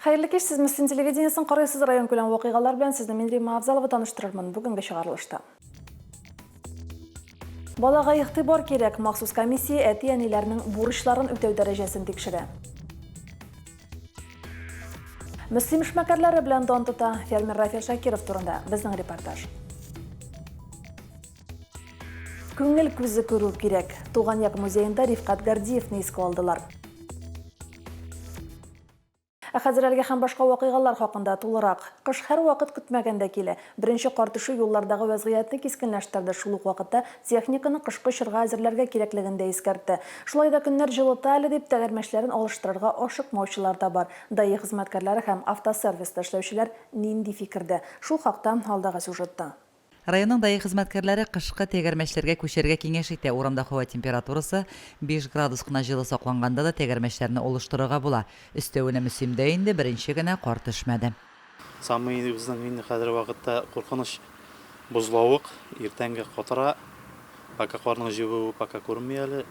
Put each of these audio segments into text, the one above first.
Хәерле кич, сез Мөслим телевидениесен карыйсыз, район күләм вакыйгалар белән сезне мин Рима Авзалова таныштырырмын бүгенге чыгарылышта. Балага игътибар кирәк, махсус комиссия әти-әниләрнең бурычларын үтәү дәрәҗәсен тикшерә. Мөслим эшмәкәрләре белән дан тота фермер Рафил Шакиров турында безнең репортаж. Күңел күзе күрү кирәк. Туган як музеенда Рифкат Гордиевны искә алдылар. Ә хәзер әлеге һәм башка вакыйгалар хакында тулырак. Кыш һәрвакыт көтмәгәндә килә. Беренче кар төшү юллардагы вәзгыятьне кискенләштерде, шул ук вакытта техниканы кышкы чорга әзерләргә кирәклеген дә искәртте. Шулай да көннәр җылыта әле дип, тәгәрмәчләрен алыштырырга ашыкмаучылар да бар. Даи хезмәткәрләре һәм автосервиста эшләүчеләр нинди фикердә? Шул хакта алдагы сюжетта. Районның даи хезмәткәрләре кышкы тәгәрмәчләргә күчәргә киңәш итә, урамда һава температурасы биш градус кына җылы сакланганда да тәгәрмәчләрне олыштырырга була. Өстәвенә мөсимдә инде беренче генә кар төшмәде. Самыйыбызның инде хәзерге вакытта куркыныч бозлавык, иртәнге катыра, пока карның җебүе пока күренми әле.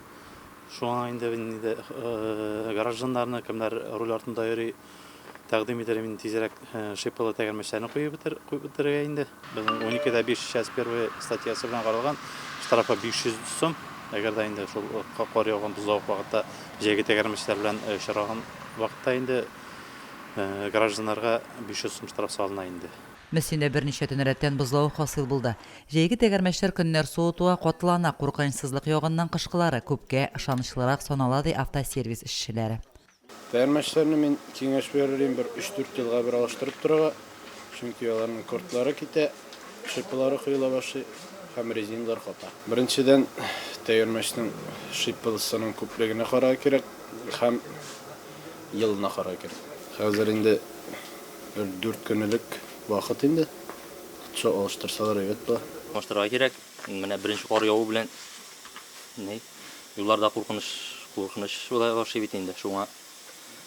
Шуңа инде, инде гражданнарны, кемнәр руль артында йөри, Тәкъдим итәрем инде тизрәк шипалы тәгәрмәчләрне куеп бетерергә инде. Безнең 12-дә 5 час первый статьясы белән каралган. Штрафы 500 сум. Әгәр дә инде шул кар яуган бозлавык вакытта җәйге тәгәрмәчләр белән очраган вакытта инде гражданнарга 500 сум штраф салына инде. Мөслимдә берничә төн рәттән бозлавык хасил булды. Җәйге тәгәрмәчләр көннәр суытуга, катлана, куркынычсызлык ягыннан кышкылары күпкә ышанычлырак санала, ди автосервис эшчеләре. Фәрмәчләрне мин киңәш бирер идем, бер өч-дүрт елга бер алыштырып торырга, чөнки аларның кортлары китә, шиппылары коела башлый һәм резиналар ката. Беренчедән, тәгәрмәчнең шиппылысының күплегенә карарга кирәк һәм елына карарга кирәк. Хәзер инде бер дүрт көн элек вакыт инде, котчо алыштырсалар әйбәт була. Алыштырырга кирәк, менә беренче кар яву белән. Юлларда куркыныч, куркыныч була башлый бит инде. Шуңа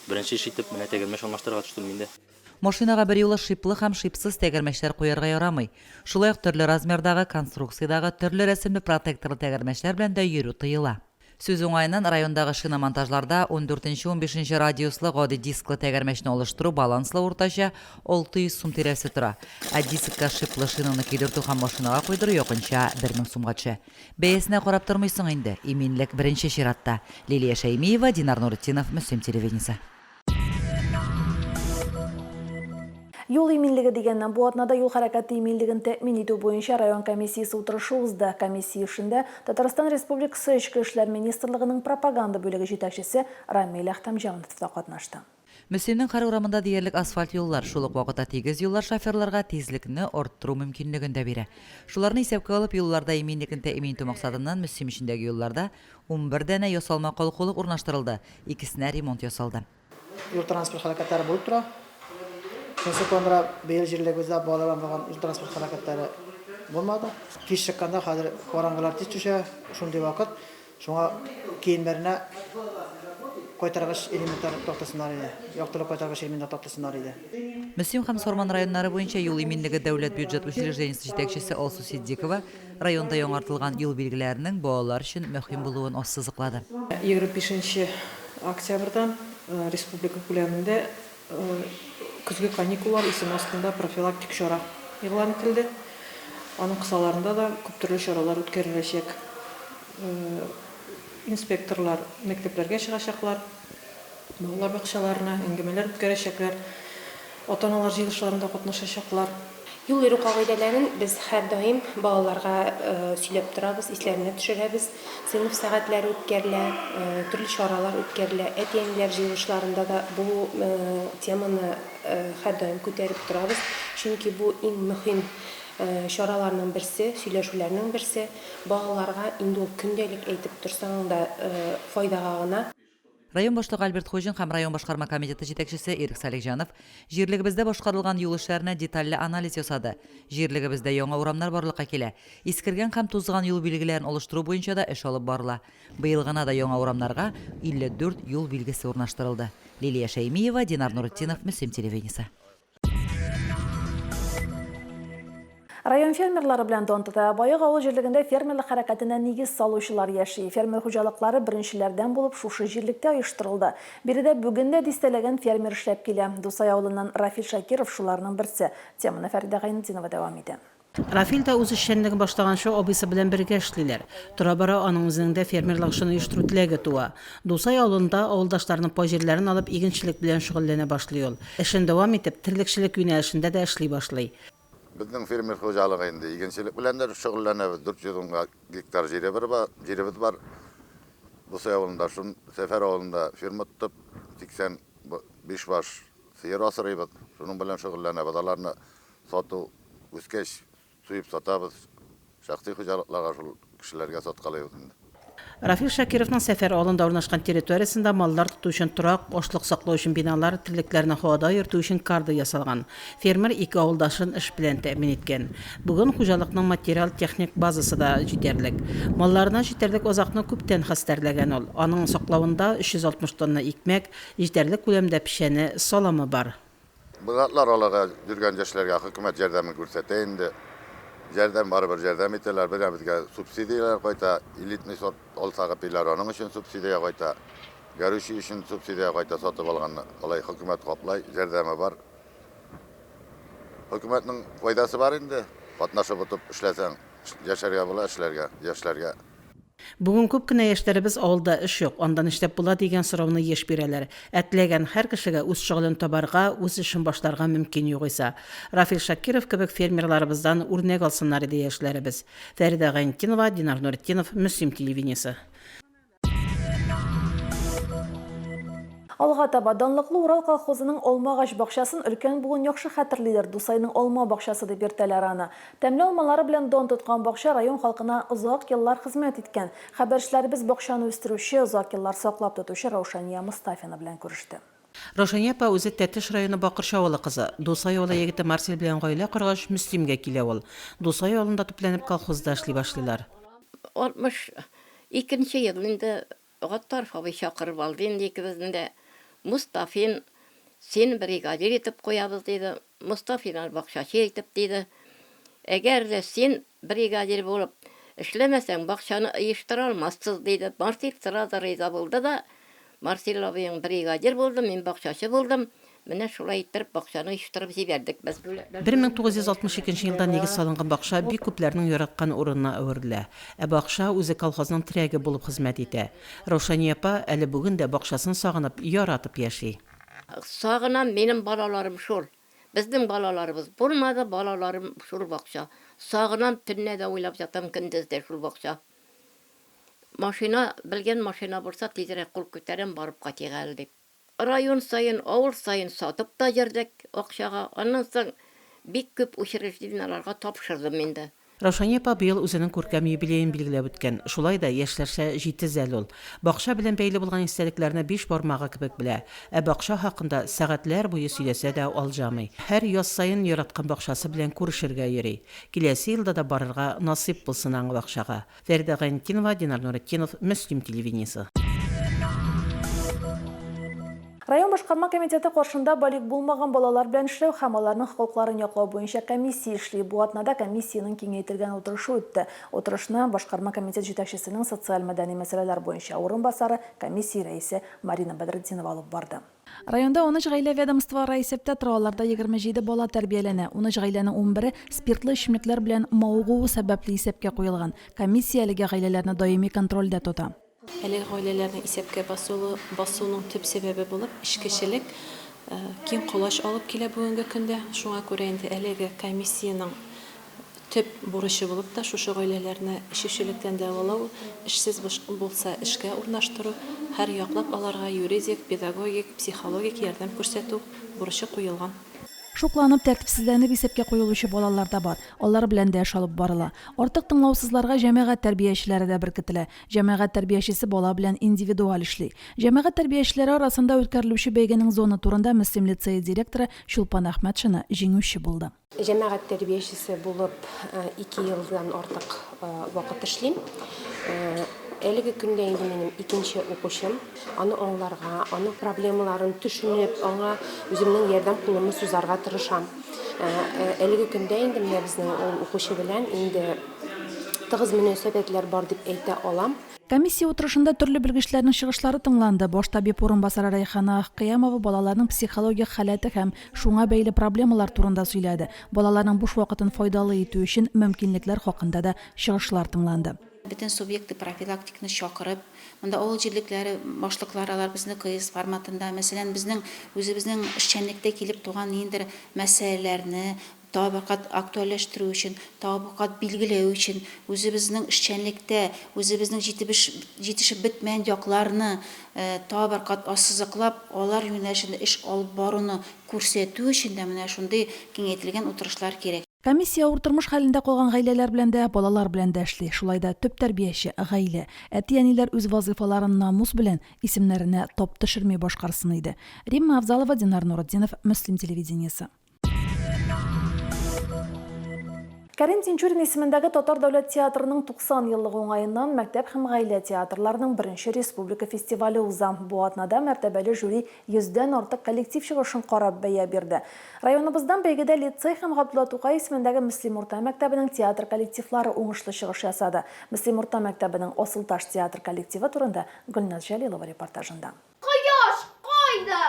беренче эш итеп менә тәгәрмәч алмаштырырга төштем мин дә. Машинага берьюлы шиплы һәм шипсыз тәгәрмәчләр куярга ярамый. Шулай ук төрле размердагы, конструкциядагы, төрле рәсемле протекторлы тәгәрмәчләр белән дә йөрү тыела. Сүз уңаеннан, райондагы шиномонтажларда ундүртенче-унбишенче радиуслы гади дисклы тәгәрмәчне алыштыру баланслы уртача 600 сум тирәсе тора, ә дискка шиплы шинаны көйдертү һәм машинага куйдыру якынча 1000 сумга төшә. Бәясенә карап тормыйсың инде, иминлек беренче чиратта. Лилия Шәймиева, Динар Нуретдинов, Мөслим телевидениесе. Юл иминлеге дигәннән, бу атнада юл хәрәкәте иминлеген тәэмин итү буенча район комиссиясе утырышы узды. Комиссия эшендә Татарстан Республикасы Эчке эшләр министрлыгының пропаганда бүлеге җитәкчесе Рамил Әхтәмҗанов та катнашты. Мөслимнең һәр урамында диярлек асфальт юллар, шул ук вакытта тигез юллар шоферларга тизлекне арттыру мөмкинлеген дә бирә. Шуларны исәпкә алып, юлларда иминлекне тәэмин итү максатыннан Мөслим эчендәге юлларда унбер данә ясалма калкулык урнаштырылды, икесенә ремонт ясалды. Юл-транспорт һәлакәтләре булып тора. Шунысы куандыра, быел җирлегебездә балалардан булган юл-транспорт һәлакәтләре булмады. Кич чыкканда, хәзер караңгылар тиз төшә, шундый вакыт, Шуңа киемнәренә кайтаргыч элементлар таптырсыннар иде, яктылык кайтаргыч элементлар таптырсыннар иде. Мөслим һәм Сарман районнары буенча юл иминлеге дәүләт бюджет учреждениесе җитәкчесе Алсу Ситдикова районда яңартылган юл билгеләренең балалар өчен мөһим булуын ассызыклады. Егерме бишенче октябрьдән республика күләмендә Көзге каникуллар исеме астында профилактик чара игълан ителде. Аның кысаларында да күп төрле чаралар үткәреләчәк. Инспекторлар мәктәпләргә чыгачаклар, балалар бакчаларына әңгәмәләр үткәрәчәкләр, ата-аналар җыелышларында катнашачаклар. Юл йөрү кагыйдәләрен без һәрдаим балаларга сөйләп торабыз, исләренә төшерәбез. Сыйныф сәгатьләре үткәрелә, төрле чаралар үткәрелә. Әти-әниләр җыелышларында да бу теманы һәрдаим күтәреп торабыз. Чөнки бу иң мөһим чараларның берсе, сөйләшүләрнең берсе. Балаларга инде ул көндәлек әйтеп торсаң да файдага гына. Район башлыгы Альберт Хуҗин һәм район башкарма комитеты җитәкчесе Ирек Салихҗанов җирлегебездә башкарылган юл эшләренә детальле анализ ясады. Җирлегебездә яңа урамнар барлыкка килә. Искергән һәм тузган юл билгеләрен алыштыру буенча да эш алып барыла. Быел гына да яңа урамнарга 54 юл билгесе урнаштырылды. Лилия Шәймиева, Динар Нуретдинов, Мөслим телевидениесе. Район фермерлары белән дан тота. Баек авыл җирлегендә фермерлык хәрәкәтенә нигез салучылар яши. Фермер хуҗалыклары беренчеләрдән булып шушы җирлектә оештырылды. Биредә бүген дә дистәләгән фермер эшләп килә. Дусай авылыннан Рафил Шакиров шуларның берсе. Теманы Фәридә Гайнетдинова дәвам итә. Рафил да үз эшчәнлеген башлаганчы абыйсы белән бергә эшлиләр. Тора-бара аның үзенең дә фермер лагчын оештыру теләге туа. Дусай авылында авылдашларының пай җирләрен алып игенчелек белән шөгыльләнә башлый ул. Эшен дәвам итеп, терлекчелек юнәлешендә дә эшли башлый. Безнең фермер хуҗалыгы инде игенчелек белән дә шөгыльләнәбез, 400 ун гектар җиребез бар. Дусай авылында шул Сәфәр авылында ферма тотып, 85 баш сыер асрыйбыз, шуның белән шөгыльләнәбез. Аларны Сату үскәч, суеп сатабыз. Шәхси хуҗалыкларга шул кешеләргә саткалыйбыз инде. Рафил Шакировның Сәфәр авылында урнашкан территориясендә маллар тоту өчен торак, ашлык саклау өчен биналар, терлекләрне һавада йөртү өчен карда ясалган. Фермер ике авылдашын эш белән тәэмин иткән. Бүген хуҗалыкның материал-техник базасы да җитәрлек. Малларына җитәрлек азыкны күптән хәстәрләгән ул. Аның саклавында 360 тонна икмәк, җитәрлек күләмдә печәне, саламы бар. Бу затлар аларга йөргән яшьләргә хөкүмәт ярдәмен күрсәтә инде. Ярдәм барыбер ярдәм итәләр. Бер безгә субсидияләр кайта. Элитный сорт алсагы пиләр аның өчен субсидия кайта. Горючий өчен субсидия кайта сатып алганны. Алай хөкүмәт каплай, ярдәме бар. Хөкүмәтнең файдасы бар инде. Катнашып отып эшләсәң, яшәргә була, эшләргә, яшьләргә. Бүген күп кенә яшьләребез авылда эш юк, анда нишләп була дигән сорауны еш бирәләр. Ә теләгән һәр кешегә үз шөгылен табарга, үз эшен башларга мөмкин югыйсә. Рафил Шакиров кебек фермерларыбыздан үрнәк алсыннар иде яшьләребез. Фәридә Гайнтдинова, Динар Нуретдинов, Мөслим телевидениесе. Алга таба, данлыклы Урал колхозының Алмагач бакчасын өлкән буын яхшы хәтерлидер, Дусайның алма бакчасы дип йөртәләр аны. Тәмле алмалары белән дан тоткан бакча район халкына озак еллар хезмәт иткән. Хәбәрчеләребез бакчаны үстерүче, озак еллар саклап тотучы Раушания Мостафина белән күреште. Раушания апа үзе Тәтеш районы Бакырчы авылы кызы. Дусай авылы егете Марсель белән гаилә коргач, Мөслимгә килә ул. Дусай авылында төпләнеп колхозда эшли башлыйлар. 62 нче ел инде Гаттаров абый чакырып алды инде икебезне дә. Мостафин, син бригадир итеп куябыз, диде. Мостафин аны бакчачы итеп диде. Әгәр дә син бригадир булып эшләмәсәң, бакчаны ыештыра алмассыз, диде. Марсил сразу риза булды да, Марсил абыең бригадир булды, мин бакчачы булдым. Менә шулай иттереп бакчаны оештырып җибәрдек без. 1962 елда нигез салынган бакча бик күпләрнең яраткан урынына әверелә. Ә бакча үзе колхозның терәге булып хезмәт итә. Раушания апа әле бүген дә бакчасын сагынып, яратып яши. Сагынам, минем балаларым шул. Безнең балаларыбыз булмады, балаларым шул бакча. Сагынам, төнлә дә уйлап ятам, көндез дә шул бакча. Машина, белгән машина булса, тизрәк кул күтәрәм, барып кайтыйк әле дип. Район саен, авыл саен сатып та йөрдек акчага. Аннан соң бик күп учреждениеләргә тапшырдым инде. Раушания апа быел үзенең күркәм юбилеен билгеләп үткән. Шулай да, яшьләрчә җитез әле ул. Бакча белән бәйле булган истәлекләрне биш бармагы кебек белә. Ә бакча хакында сәгатьләр буе сөйләсә дә алҗамый. Һәр яз саен яраткан бакчасы белән күрешергә йөри. Киләсе елда да барырга насыйп булсын аңа бакчага. Фәридә Гайнетдинова, Динар Нуретдинов, Мөслим телевидениесе. Район башкарма комитеты каршында балигъ булмаган балалар белән эшләү һәм аларның хокукларын яклау буенча комиссия эшли. Бу атнада комиссиянең киңәйтелгән утырышы үтте. Утырышны башкарма комитет җитәкчесенең социаль-мәдәни мәсьәләләр буенча урынбасары, комиссия рәисе Марина Бәдретдинова алып барды. Районда унөч гаилә ведомствоара исәптә тора, аларда егерме җиде бала тәрбияләнә. Унөч гаиләнең унбере спиртлы эчемлекләр белән мавыгуы сәбәпле исәпкә куелган. Комиссия әлеге гаиләләрне даими контрольдә тота. Әлеге гаиләләрнең исәпкә басуының төп сәбәбе булып эчкечелек киң колач алып килә бүгенге көндә. Шуңа күрә инде әлеге комиссиянең Төп бурычы булып та шушы гаиләләрне эчүчелектән дәвалау, эшсез булса эшкә урнаштыру, һәр яклап аларга юридик, педагогик, психологик ярдәм күрсәтү бурычы куелган. Шукланып, тәртипсезләнеп исәпкә куелучы балалар да бар. Алар белән дә эш алып барыла. Артык тыңлаусызларга җәмәгать тәрбиячеләре дә беркетелә. Җәмәгать тәрбиячесе бала белән индивидуаль эшли. Җәмәгать тәрбиячеләре арасында үткәрелүче бәйгенең зона турында Мөслим лицее директоры Чулпан Әхмәтшина җиңүче булды. Җәмәгать тәрбиячесе булып ике елдан артык вакыт эшлим. Әлеге көндә инде минем икенче укучым. Аны аңларга, аның проблемаларын төшенеп, аңа үземнең ярдәм кулымны сузарга тырышам. Э, э, әлеге көндә инде менә безнең ул укучы белән инде тыгыз мөнәсәбәтләр бар дип әйтә алам. Комиссия утырышында төрле белгечләрнең чыгышлары тыңланды. Баш табиб урынбасары Рәйхана Ахкыямова балаларның психологик халәте һәм Шуңа бәйле проблемалар турында сөйләде. Балаларның буш вакытын файдалы итү өчен мөмкинлекләр хакында да чыгышлар тыңланды. Бөтен субъекты профилактикны чакырып, монда авыл җирлекләре башлыклары алар безне кыйс форматында, мәсәлән, безнең үзебезнең эшчәнлектә килеп туган ниндидер мәсьәләләрне, табигать актуальләштерү өчен, табигать билгеләү өчен, үзебезнең эшчәнлектә, үзебезнең җитебеш җитешеп бетмәгән якларны табигать ассызыклап, алар юнәлешендә эш алып баруны күрсәтү өчен дә менә шундый киңәйтелгән утырышлар кирәк. Комиссия авыр тормыш хәлендә калган гаиләләр белән дә, балалар белән дә эшли. Шулай да төп тәрбияче, гаилә. Әти-әниләр үз вазыйфаларын намус белән, исемнәренә тап төшерми башкарсын иде. Римма Авзалова, Динар Нуретдинов, Мөслим телевидениесе. Кәрим Тинчурин исемендәге Татар дәүләт театрының 90 еллыгы уңаеннан мәктәп һәм гаилә театрларының беренче республика фестивале уза. Бу атнада мәртәбәле жюри йөздән артык коллектив чыгышын карап бәя бирде. Районыбыздан бәйгедә лицей һәм Габдулла Тукай исемендәге Мөслим урта мәктәбенең театр коллективлары уңышлы чыгыш ясады. Мөслим урта мәктәбенең Асылташ театр коллективы турында Гөлназ Җәлилова репортажында. Кояш кайда?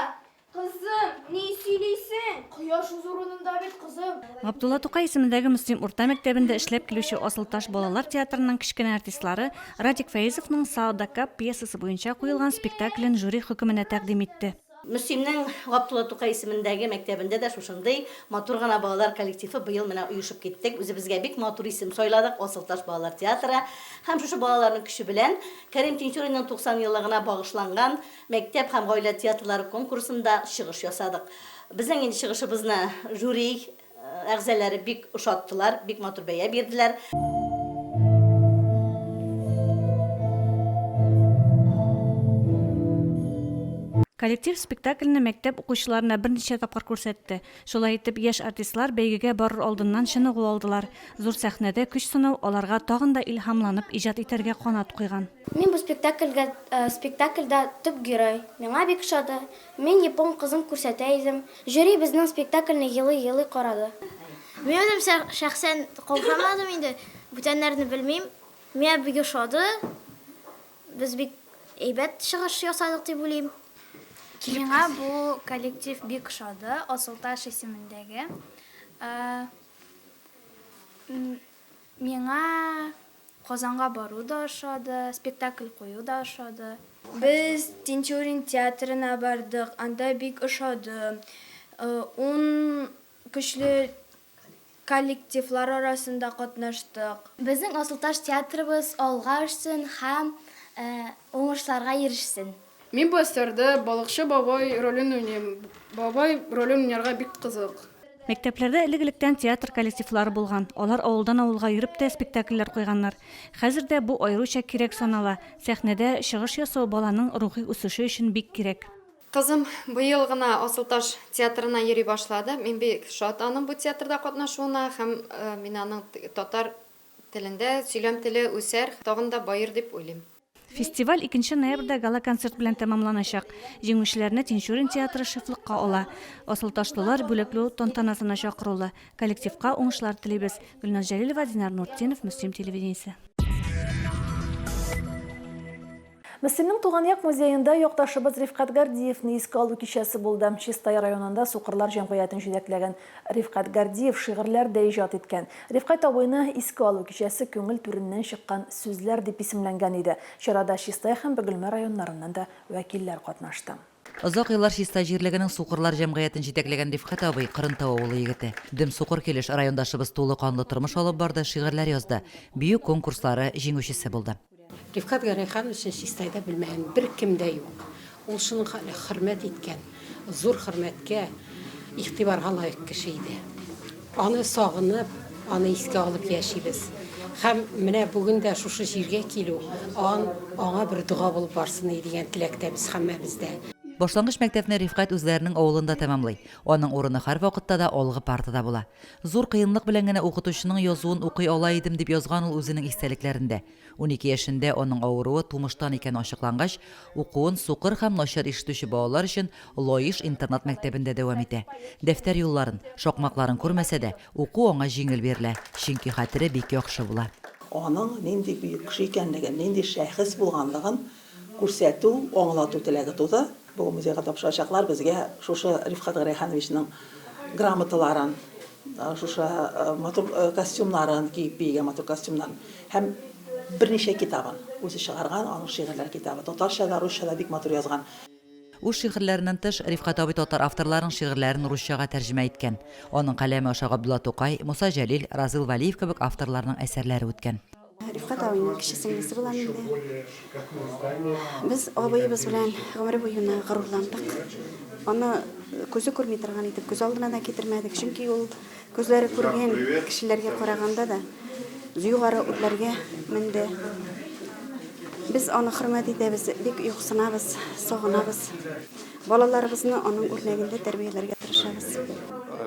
Кызым, ни сөйлисең? Кояш үз урынында бит, кызым. Габдулла Тукай исемендәге Мөслим урта мәктәбендә эшләп килүче Асылташ балалар театрының кечкенә артистлары Радик Фәизовның Саадакап пьесасы буенча куелган спектаклен жюри хөкеменә тәкъдим итте. Мөслимнең Габдулла Тукай исемендәге мәктәбендә дә шушындый матур гына балалар коллективы быел менә оешып киттек. Үзебезгә бик матур исем сайладык, Асылташ балалар театры. Һәм шушы балаларның көче белән Кәрим Тинчуринның 90 еллыгына багышланган Мәктәп һәм гаилә театрлары конкурсында чыгыш ясадык. Безнең инде чыгышыбызны жюри әгъзаләре бик ошаттылар, бик матур бәя бирделәр. Коллектив спектакльне мәктәп укучыларына берничә тапкыр күрсәтте. Шулай итеп, яшь артистлар бәйгегә барыр алдыннан чыныгу алдылар. Зур сәхнәдә көч сынау аларга тагын да илһамланып иҗат итәргә канат куйган. Мин бу спектакльгә спектакльдә төп герой. Миңа бик ошады. Мин япон кызын күрсәтә идем. Жюри безнең спектакльне елый-елый карады. Мин үзем шәхсән каушамадым инде, бүтәннәрне белмим. Миңа бик ошады. Без бик әйбәт чыгыш ясадык дип уйлыйм. Миңа бу коллектив бик ошады, Асылташ исемендәге. Миңа Казанга бару да ошады, спектакль кую да ошады. Без Тинчурин театрына бардык, анда бик ошады. Ун көчле коллективлар арасында катнаштык. Безнең Асылташ театрыбыз алга очсын һәм уңышларга ирешсен! Мин бу әсәрдә балыкчы бабай ролен уйныйм. Бабай ролен уйнарга бик кызык. Мәктәпләрдә элек-электән театр коллективлары булган, алар авылдан-авылга йөреп тә спектакльләр куйганнар. Хәзер дә бу аеруча кирәк санала, сәхнәдә чыгыш ясау баланың рухи үсеше өчен бик кирәк. Кызым быел гына Асылташ театрына йөри башлады. Мин бик шат аның бу театрда катнашуына һәм мин аның татар телендә сөйләм теле үсәр, тагын да баер дип уйлыйм. Фестиваль икенче ноябрьдә гала-концерт белән тәмамланачак. Җиңүчеләрне Тинчурин театры шефлыкка ала. Асылташлылар бүләкләү тантанасына чакырулы. Коллективка уңышлар телибез. Гөлназ Җәлилова, Динар Нуртдинов, Мөслим телевидениесе. Мөслимнең туган як музеенда якташыбыз Рифкать Гордиевны искә алу кичәсе булды. Чистай районында Сукырлар җәмгыятен җитәкләгән Рифкать Гордиев шигырьләр дә иҗат иткән. Рифкать абыйны Искә алу кичәсе күңел түреннән чыккан сүзләр дип исемләнгән иде. Чарада Чистай һәм Бөгелмә районнарыннан да вәкилләр катнашты. Озак еллар Чистай җирлегенең Сукырлар җәмгыятен җитәкләгән Рифкать абый, Кырынтау авылы егете. Дөм сукыр килеш, райондашыбыз тулы канлы тормыш алып барды, шигырьләр язды, бию конкурслары җиңүчесе булды. Рифкать Гәрәйхановичны Чистайда белмәгән беркем дә юк. Ул шуның хәтле хөрмәт иткән, зур хөрмәткә, игътибарга лаек кеше иде. Аны сагынып, аны искә алып яшибез. Һәм менә бүген дә шушы җиргә килү ан, аңа бер дога булып барсын иде дигән теләктә без һәммәбез дә. Башлангыч мәктәпне Рифкать үзләренең авылында тәмамлый. Аның урыны һәрвакытта да алгы партада була. Зур кыенлык белән генә укытучының язуын укый ала идем, дип язган ул үзенең истәлекләрендә. Унике яшендә аның авыруы тумыштан икәне ачыклангач, укуын сукыр һәм начар ишетүче балалар өчен Лаеш интернат мәктәбендә дәвам итә. Дәфтәр юлларын, шакмакларын күрмәсә дә, уку аңа җиңел бирелә, чөнки хәтере бик яхшы була. Аның нинди бөек кеше икәнлеген, нинди шәхес булганлыгын күрсәтү, аңлату теләге туды. Бүген музейга тапшырачаклар безгә шушы Рифкать Гәрәйхановичның грамоталарын, шушы матур костюмнарын, киеп биегән матур костюмнарын һәм берничә китабын, үзе чыгарган аның шигырьләр китабы, татарча да, русча да бик матур язган. Үз шигырьләреннән тыш, Рифкать абый татар авторларының шигырьләрен русчага тәрҗемә иткән. Аның каләме аша Габдулла Тукай, Муса Җәлил, Разил Вәлиев кебек авторларның әсәрләре үткән. Рифкать абыйның кече сеңлесе булам инде. Без абыебыз белән гомере буена горурландык. Аны күзе күрми торган итеп күз алдына да китермәдек, чөнки ул күзләре күргән кешеләргә караганда да югары үрләргә менде. Без аны хөрмәт итәбез, бик юксынабыз, сагынабыз. Балаларыбызны аның үрнәгендә тәрбияләргә тырышабыз.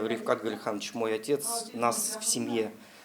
Рифкат Гөлханович, мой отец, нас в семье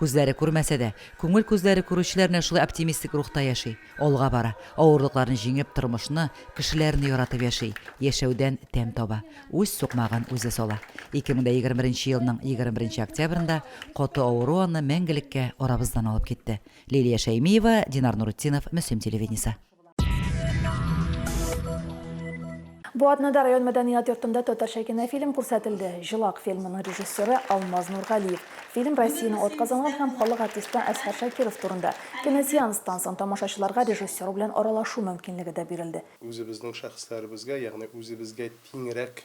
Күзләре күрмәсә дә, күңел күзләре күрүчеләр менә шулай оптимистик рухта яши, алга бара, авырлыкларны җиңеп, тормышны, кешеләрне яратып яши, яшәүдән тәм таба, үз сукмагын үзе сала. 2021 елның 21 октябрендә каты авыру аны мәңгелеккә арабыздан алып китте. Лилия Шәймиева, Динар Нуретдинов, Мөслим телевидениесе. Бу атнада район мәдәният йортында татарча кинофильм күрсәтелде. Җылак фильмының режиссеры Алмаз Нургалиев. Фильм Россияне атказанган һәм халык артисты Әсхәр Шакиров турында. Киносеанстан соң тамашачыларга режиссер белән аралашу мөмкинлеге дә бирелде. Үзебезнең шәхесләребезгә, ягъни үзебезгә тиңрәк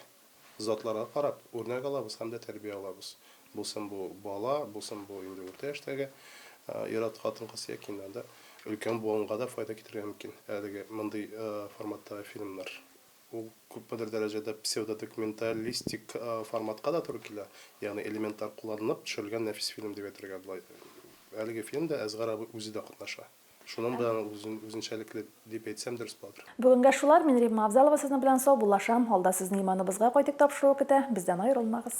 затларга карап, үрнәк алабыз һәм дә тәрбия алабыз. Булсын бу бала, булсын бу инде урта яшьтәге ир-ат, хатын-кыз яки инде анда өлкән буынга да файда китерергә мөмкин әлеге мондый форматтагы фильмнар. Ул күпмедер дәрәҗәдә псевдодокументалистик форматка да туры килә, ягъни элементлар кулланылып төшерелгән нәфис фильм дип әйтергә була. Әлеге фильмда Әсгар абый үзе дә катнаша. Шуның белән ул үзен, үзенчәлекле дип әйтсәм дөрес буладыр. Бүгенгә шулар, мин Римма Авзалова сезнең белән саубуллашам, алда сезне иманыбызга кайтик тапшыруы көтә, бездән аерылмагыз.